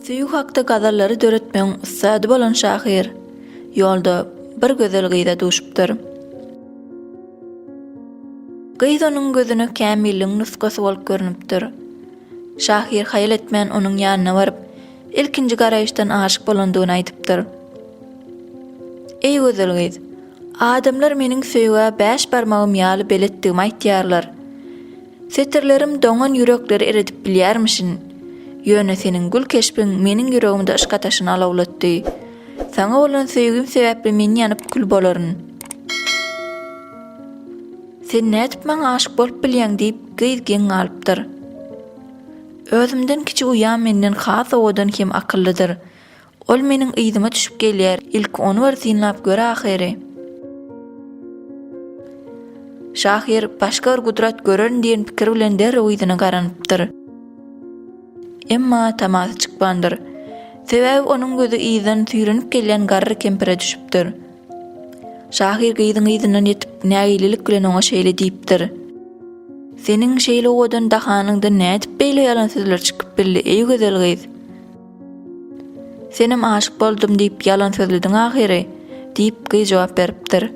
Söýgi hakda gazallary döretmegiň ussady bolan şahyr ýolda bir gözel gyza duşupdyr. Gyz onuň gözüne kämilligiň nusgasy bolup görnüpdir. Şahyr haýal etmän onuň ýanyna baryp, ilkinji garaýyşdan aşyk bolandygyny aýdypdyr. Eý gözel gyz, adamlar meniň söýgä bäş barmagym ýaly beletdigimi aýtýarlar. Setirlerim doňan ýürekleri eredip bilýärmişin. Ýöne seniň gül keşbiň meniň ýüregimde yşk ataşyny alawlatdy. Saňa bolan söýgim sebäpli men ýanyp kül bolaryn. Sen nädip maňa aşyk bolup bilýäň diýip, Gyz geň galypdyr. Özümden kiçi uýam menden has owadan hem akyllydyr. Ol meniň yzyma düşüp gelýär, ilki ony bir synlap gör ahyry. Şahyr başga bir gudrat görerin diýen pikir bilen derrew yzyna garanypdyr. Emma tamasy çykmandyr. Sebäbi onuň gözi yzdan süýrenip gelýän garry kempire düşüpdir. Şahyr gyzyň yzyndan ýetip, nägililik bilen oňa şeýle diýipdir, Seniň şeýle owadan dahanyňdan nädip beýle ýalan sözler çykyp bildi, eý gözel gyz? Senem aşyk boldum diýip, ýalan sözlediň ahyry, diýip, gyz jogap beripdir.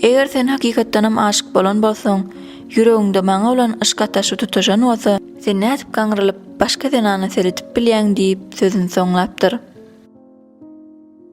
Eger sen hakykatdanam aşyk bolan bolsaň, ýüregiňde maňa bolan yşk ataşy tutaşan bolsa, sen nädip gaňrylyp, başga zenana seredip bilýäň diýip, sözüni soňlapdyr.